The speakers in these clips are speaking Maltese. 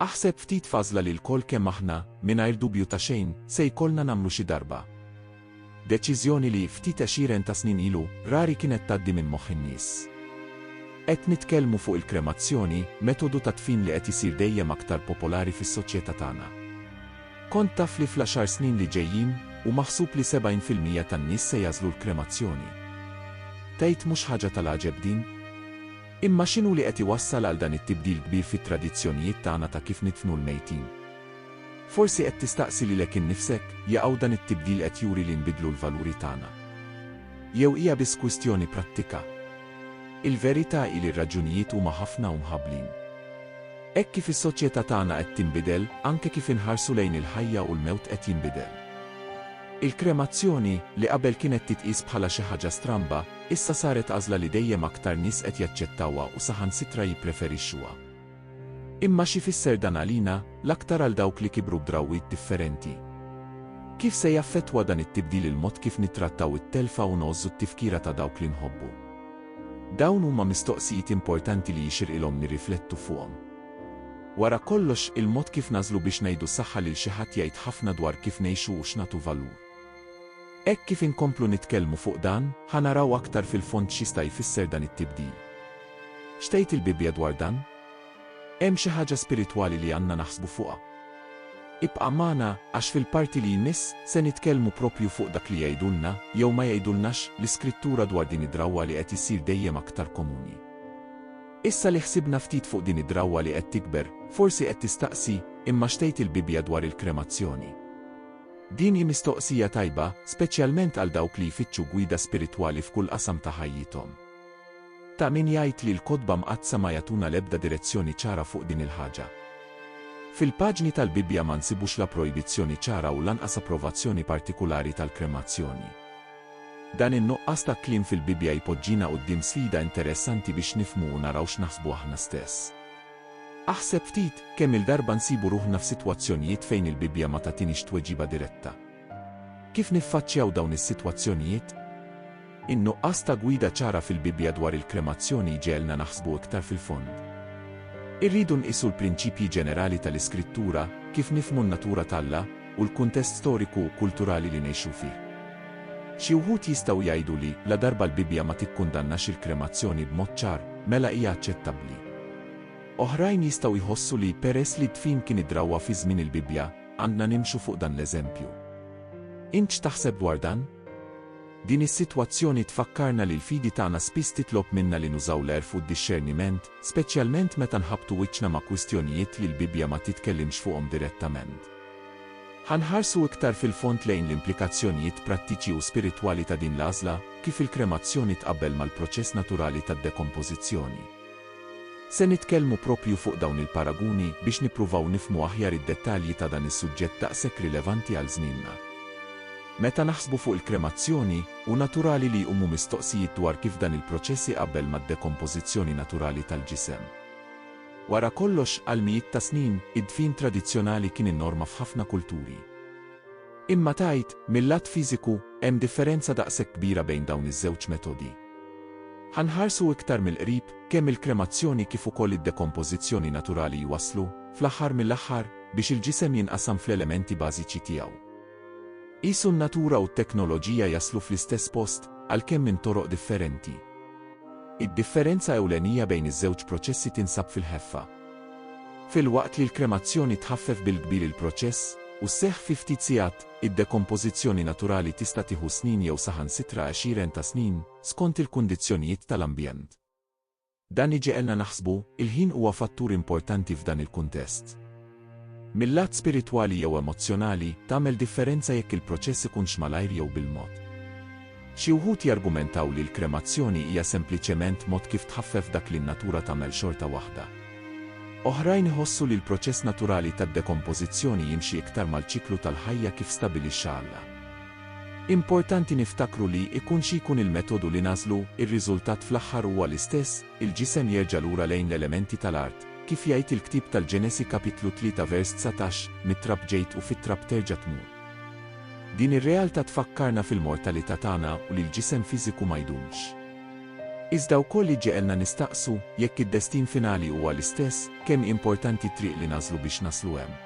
Aħseb ftit f'għażla li lkoll kemm aħna, mingħajr dubju ta' xejn, se jkollna nagħmlu xi darba. Deċiżjoni li, ftit għexieren ta' snin ilu, rari kienet tgħaddi minn moħħ in-nies. Qed nitkellmu fuq il-kremazzjoni, metodu ta' dfin li qed isir dejjem aktar popolari fis-soċjetà tagħna. Kont taf li fl-għaxar snin li ġejjin, hu maħsub li 70 fil-mija tan-nies se jagħżlu l-kremazzjoni? Tgħid mhux ħaġa tal-għaġeb din? Imma x'inhu li qed iwassal għal dan it-tibdil kbir fit-tradizzjonijiet tagħna ta' kif nidfnu l-mejtin? Forsi qed tistaqsi lilek innifsek, jaqaw dan it-tibdil qed juri li nbiddlu l-valuri tagħna? Jew hija biss kwistjoni prattika? Il-verità hi li r-raġunijiet huma ħafna u mħabblin. Hekk kif is-soċjetà tagħna qed tinbidel, anke kif inħarsu lejn il-ħajja u l-mewt qed jinbidel. Il-kremazzjoni, li qabel kienet titqies bħala xi ħaġa stramba, Issa saret għażla li dejjem aktar nies qed jaċċettawha u saħansitra jippreferixxuha. Imma x'ifisser dan għalina, l-aktar għal dawk li kibru b'drawwiet differenti? Kif se jaffettwa dan it-tibdil il-mod kif nittrattaw it-telfa u ngħożżu t-tifkira ta' dawk li nħobbu? Dawn huma mistoqsijiet importanti li jixirqilhom nirriflettu fuqhom. Wara kollox, il-mod kif nagħżlu biex ngħidu saħħa lil xi ħadd jgħid ħafna dwar kif ngħixu u x'nagħtu valur. Hekk kif inkomplu nitkellmu fuq dan, ħa naraw aktar fil-fond x'jista' jfisser dan it-tibdil. X'tgħid il-Bibbja dwar dan? Hemm xi ħaġa spiritwali li għandna naħsbu fuqha? Ibqa' magħna, għax fil-parti li jmiss, se nitkellmu proprju fuq dak li jgħidulna, jew ma jgħidulnax, l-Iskrittura dwar din id-drawwa li qed issir dejjem aktar komuni. Issa li ħsibna ftit fuq din id-drawwa li qed tikber, forsi qed tistaqsi, Imma x'tgħid il-Bibbja dwar il-kremazzjoni? Din hi mistoqsija tajba, speċjalment għal dawk li jfittxu gwida spiritwali f'kull qasam ta' ħajjithom. Ta' min jgħid li l-Kotba Mqaddsa ma jagħtuna l-ebda direzzjoni ċara fuq din il-ħaġa. Fil-paġni tal-Bibbja ma nsibux la projbizzjoni ċara u lanqas approvazzjoni partikulari tal-kremazzjoni. Dan in-nuqqas ta' kliem fil-Bibbja jpoġġina quddiem sfida interessanti biex nifhmu u naraw x'naħsbu aħna stess. Aħseb ftit, kemm-il darba nsibu ruħna f'sitwazzjonijiet fejn il-Bibbja ma tagħtinix tweġiba diretta. Kif niffaċċjaw dawn is-sitwazzjonijiet? In-nuqqas ta' gwida ċara fil-Bibbja dwar il-kremazzjoni jġegħelna naħsbu iktar fil-fond. Irridu nqisu l-prinċipji ġenerali tal-Iskrittura, kif nifhmu n-natura t'Alla, u l-kuntest storiku u kulturali li ngħixu fih. Xi wħud jistgħu jgħidu li, ladarba l-Bibbja ma tikkundannax il-kremazzjoni b'mod ċar, mela hija aċċettabbli. Oħrajn jistgħu jħossu li, peress li d-dfin kien id-drawwa fi żmien il-Bibbja, għandna nimxu fuq dan l-eżempju. Int x'taħseb dwar dan? Din is-sitwazzjoni tfakkarna li l-fidi tagħna spiss titlob minna li nużaw l-għerf u d-dixxerniment, speċjalment meta nħabbtu wiċċna ma' kwistjonijiet li l-Bibbja ma titkellimx fuqhom direttament. Ħa nħarsu iktar fil-fond lejn l-implikazzjonijiet prattiċi u spiritwali ta' din l-għażla, kif il-kremazzjoni tqabbel mal-proċess naturali tad-dekompożizzjoni. Se nitkellmu proprju fuq dawn il-paraguni biex nippruvaw nifhmu aħjar id-dettalji ta' dan is-suġġett daqshekk rilevanti għal żmienna. Meta naħsbu fuq il-kremazzjoni, hu naturali li jqumu mistoqsijiet dwar kif dan il-proċess iqabbel mad-dekompożizzjoni naturali tal-ġisem. Wara kollox, għal mijiet ta' snin, id-dfin tradizzjonali kien in-norma f'ħafna kulturi. Imma tgħid, mil-lat fiżiku, hemm differenza daqshekk kbira bejn dawn iż-żewġ metodi? Ħa nħarsu iktar mill-qrib, kemm il-kremazzjoni kif ukoll id-dekompożizzjoni naturali jwasslu, fl-aħħar mill-aħħar, biex il-ġisem jinqasam fl-elementi bażiċi tiegħu. Qisu n-natura u t-teknoloġija jaslu fl-istess post, għalkemm minn toroq differenti. Id-differenza ewlenija bejn iż-żewġ proċessi tinsab fil-ħeffa. Filwaqt li l-kremazzjoni tħaffef bil-kbir il-proċess, u sseħħ fi ftit sigħat, id-dekompożizzjoni naturali tista' tieħu snin jew saħansitra għexieren ta' snin, skont il-kundizzjonijiet tal-ambjent. Dan iġegħelna naħsbu, il-ħin huwa fattur importanti f'dan il-kuntest. Mil-lat spiritwali jew emozzjonali, tagħmel differenza jekk il-proċess ikunx malajr jew bil-mod. Xi wħud jargumentaw li l-kremazzjoni hija sempliċement mod kif tħaffef dak li n-natura tagħmel xorta waħda. Oħrajn iħossu li l-proċess naturali tad-dekompożizzjoni jimxi iktar mal-ċiklu tal-ħajja kif stabilixxa Alla. Importanti niftakru li, ikun xi jkun il-metodu li nagħżlu, ir-riżultat fl-aħħar huwa l-istess, il-ġisem jerġa' lura lejn l-elementi tal-art. Kif jgħid il-ktieb tal-Ġenesi kapitlu tlieta vers dsatax, Mit-trab ġejt u fit-trab terġa' tmur. Din ir-realtà tfakkarna fil-mortalità tagħna u li l-ġisem fiżiku ma jdumx. Iżda wkoll iġġegħelna nistaqsu, jekk id-destin finali huwa l-istess, kemm hi importanti t-triq li nagħżlu biex naslu hemm.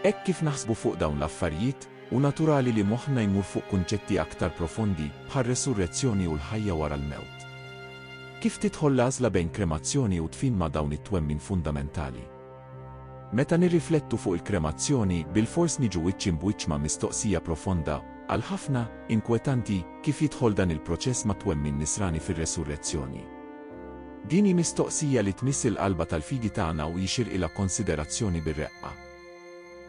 Hekk kif naħsbu fuq dawn l-affarijiet, Hu naturali li moħħna jmur fuq kunċetti aktar profondi, bħar-resurrezzjoni u l-ħajja wara l-mewt. Kif tidħol l-għażla bejn kremazzjoni u dfin ma' dawn it-twemmin fundamentali? Meta nirriflettu fuq il-kremazzjoni, bilfors niġu wiċċ imb'wiċċ ma' mistoqsija profonda, għal ħafna, inkwetanti, kif jidħol dan il-proċess mat-twemmin Nisrani fir-resurrezzjoni? Din hi mistoqsija li tmiss il-qalba tal-fidi tagħna u jixirqilha konsiderazzjoni bir-reqqa.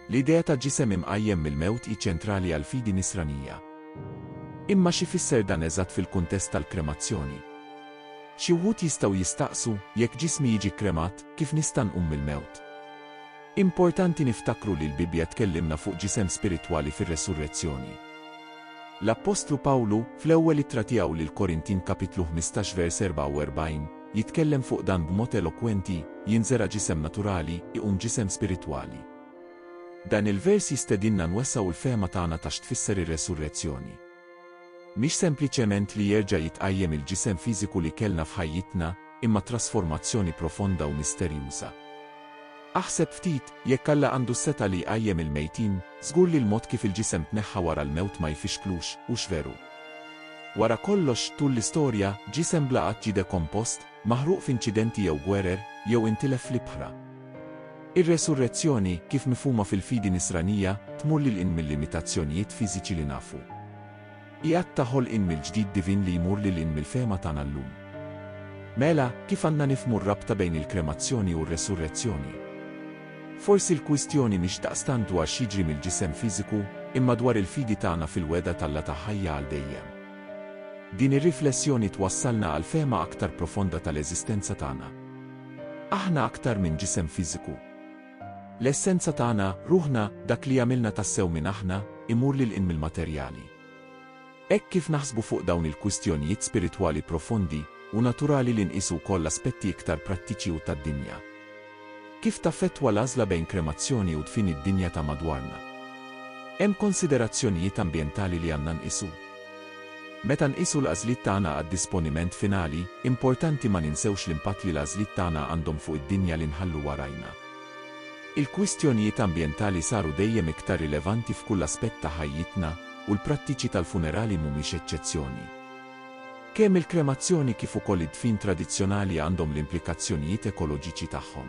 L-idea ta' ġisem imqajjem mill-mewt hi ċentrali għall-fidi Nisranija. Imma x'ifisser dan eżatt fil-kuntest tal-kremazzjoni? Xi wħud jistgħu jistaqsu, Jekk ġismi jiġi kkremat, kif nista' nqum mill-mewt? Importanti niftakru li l-Bibbja tkellimna fuq ġisem spiritwali fir-resurrezzjoni. L-appostlu Pawlu, fl-ewwel ittra tiegħu lill-Korintin kapitlu ħmistax vers 44, Jitkellem fuq dan b'mod elokwenti, Jinżera' ġisem naturali, iqum ġisem spiritwali. Dan il-vers jistedinna nwessgħu l-fehma tagħna ta' x'tfisser ir-resurrezzjoni. Mhix sempliċement li jerġa' jitqajjem il-ġisem fiżiku li kellna f'ħajjitna, imma trasformazzjoni profonda u misterjuża. Aħseb ftit, jekk Alla għandu s-setgħa li jqajjem il-mejtin, żgur li l-mod kif il-ġisem tneħħa wara l-mewt ma jfixklux, hux veru? Wara kollox, tul l-istorja, ġisem bla qatt ġie dekompost, maħruq f'inċidenti jew gwerer, jew intilef fl-ibħra. Ir-resurrezzjoni, kif mifhuma fil-fidi Nisranija, tmur lil hinn mil-limitazzjonijiet fiżiċi li nafu. Hi att ta' ħolqien mill-ġdid divin li jmur lil hinn mill-fehma tagħna llum. Mela, kif għandna nifhmu r-rabta bejn il-kremazzjoni u r-resurrezzjoni? Forsi l-kwistjoni mhix daqstant dwar x'jiġri mill-ġisem fiżiku, imma dwar il-fidi tagħna fil-wegħda t'Alla ta' ħajja għal dejjem. Din ir-riflessjoni twassalna għal fehma aktar profonda tal-eżistenza tagħna. Aħna aktar minn ġisem fiżiku. L-essenza tagħna, ruħna, dak li jagħmilna tassew min aħna, imur lil hinn mill-materjali. Hekk kif naħsbu fuq dawn il-kwistjonijiet spiritwali profondi, hu naturali li nqisu wkoll aspetti iktar prattiċi u tad-dinja. Kif taffettwa l-għażla bejn kremazzjoni u dfin id-dinja ta' madwarna? Hemm konsiderazzjonijiet ambjentali li għandna nqisu? Meta nqisu l-għażliet tagħna għad-disponiment finali, importanti ma ninsewx l-impatt li l-għażliet tagħna għandhom fuq id-dinja li nħallu warajna. Il-kwistjonijiet ambjentali saru dejjem iktar rilevanti f'kull aspett ta' ħajjitna, u l-prattiċi tal-funerali mhumiex eċċezzjoni. Kemm il-kremazzjoni kif ukoll id-dfin tradizzjonali għandhom l-implikazzjonijiet ekoloġiċi tagħhom.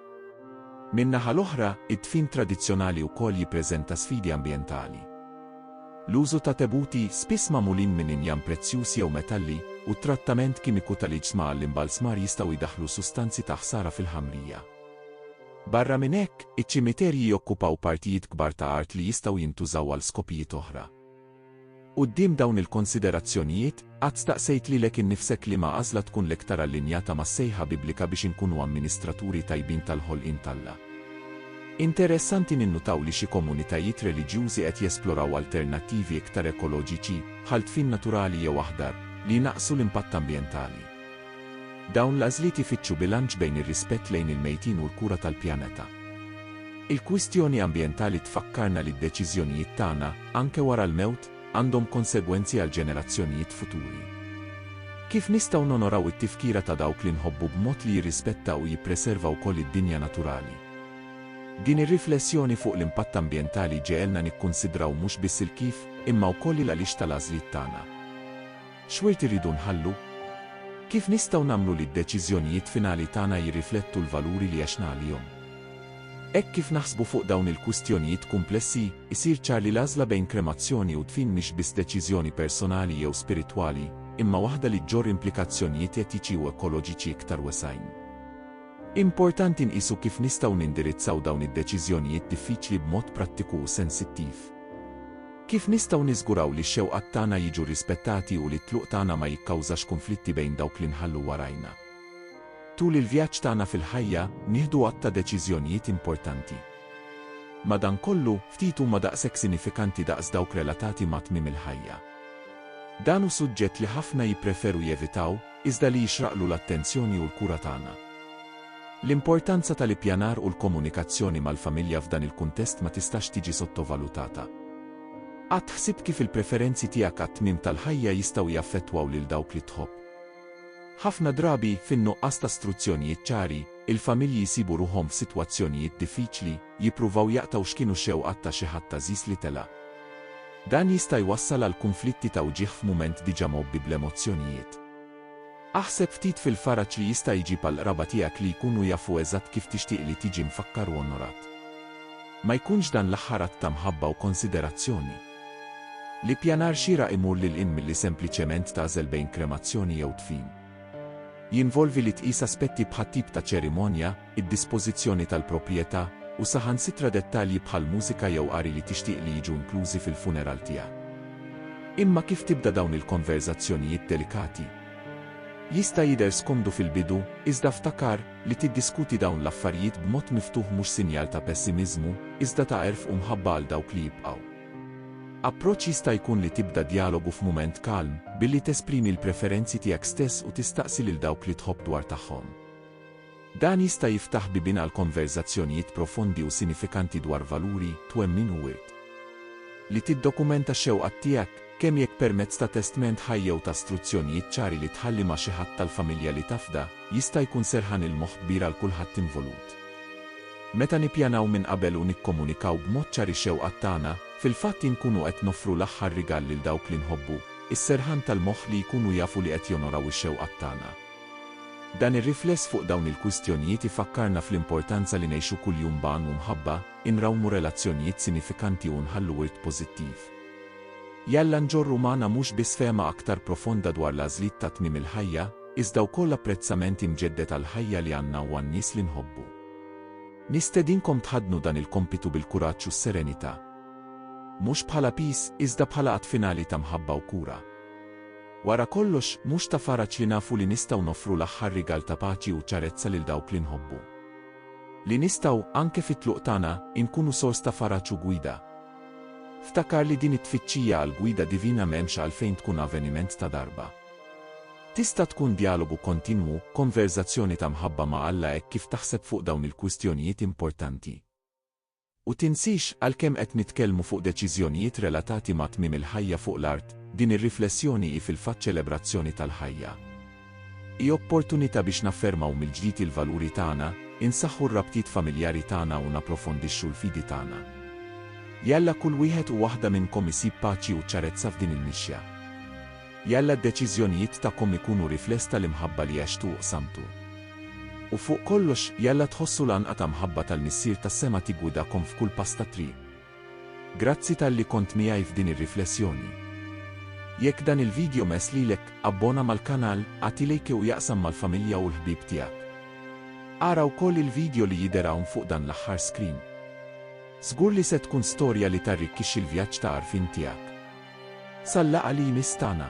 Min-naħa l-oħra, id-dfin tradizzjonali wkoll jippreżenta sfidi ambjentali. L-użu ta' tebuti, spiss magħmulin minn injam prezzjuż jew metalli, u t-trattament kimiku tal-iġsma għall-imbalzmar jistgħu jdaħħlu sustanzi ta' ħsara fil-ħamrija. Barra minn hekk, iċ-ċimiterji jokkupaw partijiet kbar ta' art li jistgħu jintużaw għal skopijiet oħra. Quddiem dawn il-konsiderazzjonijiet, qatt staqsejt lilek innifsek liema għażla tkun l-iktar allinjata mas-sejħa Biblika biex inkunu amministraturi tajbin tal-ħolqien t'Alla? Interessanti ninnutaw li xi komunitajiet reliġjużi qed jesploraw alternattivi iktar ekoloġiċi, bħal dfin naturali jew aħdar, li jnaqqsu l-impatt ambjentali. Dawn l-għażliet ifittxu bilanċ bejn ir-rispett lejn il-mejtin u l-kura tal-pjaneta. Il-kwistjoni ambjentali tfakkarna li d-deċiżjonijiet tagħna, anke wara l-mewt, għandhom konsegwenzi għall-ġenerazzjonijiet futuri. Kif nistgħu nonoraw it-tifkira ta' dawk li nħobbu b'mod li jirrispetta u jippreserva wkoll id-dinja naturali? Din ir-riflessjoni fuq l-impatt ambjentali ġegħelna nikkunsidraw mhux biss il-kif, imma wkoll il-għaliex tal-għażliet tagħna. X'wirt irridu nħallu? Kif nistgħu nagħmlu li d-deċiżjonijiet finali tagħna jirriflettu l-valuri li għexna għalihom? Hekk kif naħsbu fuq dawn il-kwistjonijiet kumplessi, isir ċar li l-għażla bejn kremazzjoni u dfin mhix biss deċiżjoni personali jew spiritwali, imma waħda li ġġorr implikazzjonijiet etiċi u ekoloġiċi iktar wesgħin. Importanti nqisu kif nistgħu nindirizzaw dawn id-deċiżjonijiet diffiċli b'mod prattiku u sensittiv. Kif nistgħu niżguraw li x-xewqat tagħna jiġu rrispettati u li t-tluq tagħna ma jikkawżax kunflitti bejn dawk li nħallu warajna? Tul il-vjaġġ tagħna fil-ħajja, nieħdu għadd ta' deċiżjonijiet importanti. Madankollu, ftit huma daqshekk sinifikanti daqs dawk relatati ma' tmiem il-ħajja. Dan hu suġġett li ħafna jippreferu jevitaw, iżda li jixraqlu l-attenzjoni u l-kura tagħna. L-importanza tal-ippjanar u l-komunikazzjoni mal-familja f'dan il-kuntest ma tistax tiġi sottovalutata. Qatt ħsibt kif il-preferenzi tiegħek għat-tmiem tal-ħajja jistgħu jaffettwaw lil dawk li tħobb? Ħafna drabi, fin-nuqqas ta' struzzjonijiet ċari, il-familji jsibu ruħhom f'sitwazzjonijiet diffiċli, jippruvaw jaqtgħu x'kienu x-xewqat ta' xi ħadd għażiż li telaq. Dan jista' jwassal għal kunflitti ta' wġigħ f'mument diġà mgħobbi bl-emozzjonijiet. Aħseb ftit fil-faraġ li jista' jġib għall-qraba tiegħek li jkunu jafu eżatt kif tixtieq li tiġi mfakkar u onorat. Ma jkunx dan l-aħħar att ta' mħabba u konsiderazzjoni? L-ippjanar xieraq imur lil hinn milli sempliċement tagħżel bejn kremazzjoni jew dfin. Jinvolvi li tqis aspetti bħat-tip ta' ċerimonja, id-dispożizzjoni tal-proprjetà, u saħansitra dettalji bħal mużika jew qari li tixtieq li jiġu inklużi fil-funeral tiegħek. Imma kif tibda dawn il-konverżazzjonijiet delikati? Jista' jidher skomdu fil-bidu, iżda ftakar li tiddiskuti dawn l-affarijiet b'mod miftuħ mhux sinjal ta' pessimiżmu, iżda ta' għerf u mħabba għal dawk li jibqgħu. Approċċ jista' jkun li tibda djalogu f'mument kalm, billi tesprimi l-preferenzi tiegħek stess u tistaqsi lil dawk li tħobb dwar tagħhom. Dan jista' jiftaħ bibien għal konverżazzjonijiet profondi u sinifikanti dwar valuri, twemmin u wirt. Li tiddokumenta x-xewqat tiegħek, kemm jekk permezz ta' testment ħaj jew ta' struzzjonijiet ċari li tħalli ma' xi ħadd tal-familja li tafda, jista' jkun serħan il-moħħ kbir għal kulħadd involut. Meta nippjanaw minn qabel u nikkomunikaw b'mod ċar ix-xewqat tagħna, fil-fatt inkunu qed noffru l-aħħar rigal lil dawk li nħobbu, is-serħan tal-moħħ li jkunu jafu li qed jonoraw ix-xewqat tagħna. Dan ir-rifless fuq dawn il-kwistjonijiet ifakkarna fl-importanza li ngħixu kuljum b'għan u mħabba, inrawmu relazzjonijiet sinifikanti u nħallu wirt pożittiv. Jalla nġorru magħna mhux biss fehma aktar profonda dwar l-għażliet ta' tmiem il-ħajja, iżda wkoll apprezzament imġedded għall-ħajja li għandna u għan-nies li nħobbu. Nistedinkom tħaddnu dan il-kompitu bil-kuraġġ u s-serenità. Mhux bħala piż, iżda bħala att finali ta' mħabba u kura. Wara kollox, mhux ta' faraġ li nafu li nistgħu noffru l-aħħar rigal ta' paċi u ċarezza lil dawk li nħobbu? Li nistgħu, anke fit-tluq tagħna, inkunu sors ta' faraġ u gwida? Ftakar li din it-tfittxija għall-gwida divina m'hemmx għalfejn tkun avveniment ta' darba. Tista' tkun djalogu kontinwu, konverżazzjoni ta' mħabba ma' Alla hekk kif taħseb fuq dawn il-kwistjonijiet importanti. U tinsiex, għalkemm qed nitkellmu fuq deċiżjonijiet relatati ma' tmiem il-ħajja fuq l-art, din ir-riflessjoni hi fil-fatt ċelebrazzjoni tal-ħajja. Hi opportunità biex naffermaw mill-ġdid il-valuri tagħna, insaħħu r-rabtiet familjari tagħna u napprofondixxu l-fidi tagħna. Jalla kull wieħed u waħda minnkom isib paċi u ċarezza f'din il-mixja. Jalla d-deċiżjonijiet tagħkom ikunu rifless tal-imħabba li għextu u qsamtu. U fuq kollox, jalla tħossu l-għanqa ta' mħabba tal-Missier tas-sema tiggwidakom f'kull pass tat-triq. Grazzi talli kont miegħi f'din ir-riflessjoni. Jekk dan il-video mess lilek, abbona mal-kanal, agħti lejke u jaqsam mal-familja u l-ħbieb tiegħek. Ara wkoll il-video li jidher hawn fuq dan l-aħħar screen. Żgur li se tkun storja li tarrikkixxi l-vjaġġ ta' għarfien tiegħek. Sal-laqgħa li jmiss tagħna.